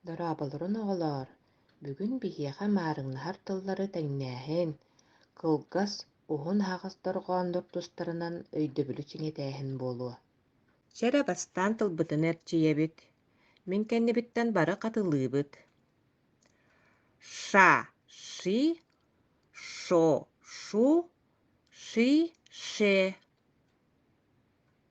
Дорооболоруҥ оҕолоор! Бүгүн биһиэхэ маарыҥнаһар тыллары тэҥнээһин, кылгас, уһун аһаҕас дорҕооннор тустарынан өйдөбүлү чиҥэтээһин буолуо. Чэ эрэ бастаан тылбытын эрчийэбит. Мин кэннибиттэн бары хатылыыбыт. Ша, ши, шо, шу, ши, ше.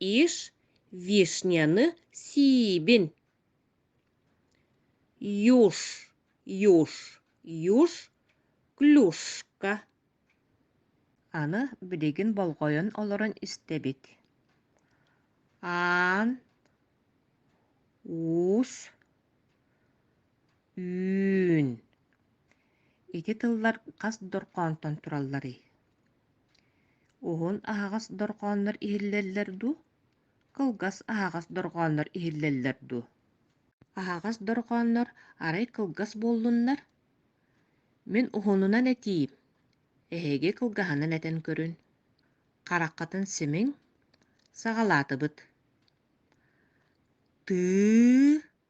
иш вишняны сиибин юж юж юж клюшка аны билигин болҕойон олорон истэбит аан уус үүн ити тыллар хас дорҕоонтон туралларый Уһун аһаҕас дорҕооннор иһиллэллэр дуу, кылгас аһаҕас дорҕооннор иһиллэллэр дуу? Аһаҕас дорҕооннор арай кылгас буоллуннар? Мин уһунунан этиим, эһиги кылгаһынан этэн көрүн. Хараххытын симиҥ, саҕалаатыбыт. Тыы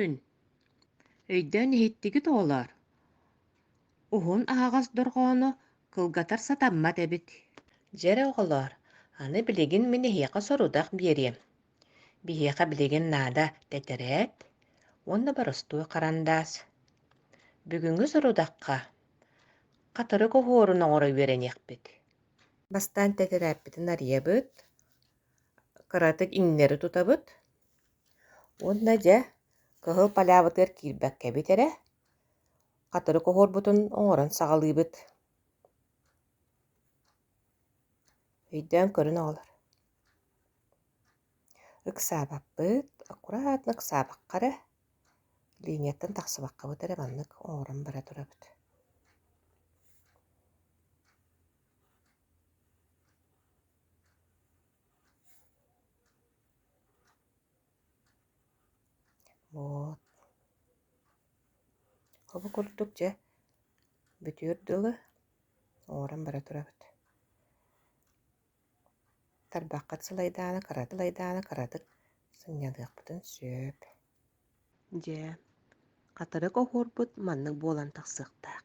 Үн, өйдөөн иһиттигит оҕолоор, уһун аһаҕас дорҕоону кылгатар сатаммат эбит. Дьэ оҕолоор, аны билигин мин эһиэхэ сорудах биэриэм. Биһиэхэ билигин наада тэтэрээт уонна боростуой харандаас. Бүгүҥҥү сорудахха хатырык оһуорун оҥоро үөрэниэхпит. Бастаан тэтэрээппитин арыйабыт, кыратык иҥнэри тутабыт. Уонна дьэ, кыһыл палябытыгар киирбэккэбит эрэ, хатырык оһуорбутун оҥорон саҕалыыбыт. Өйдөөн көрөн оҕолор. Ыксаабаппыт, аккуратно ыксаабакка эрэ, линияттан тахсыбаккабыт эрэ маннык оҥорон бара турабыт. Вот. Ол курдук дьэ бүтүөр дылы оҥорон бара турабыт. Тарбаххыт сылайдааны, кыратык лайдааны кыратык сынньалыахпытын сөп. Дьэ, хатырык оһуорбут маннык буолан тахсыахтаах.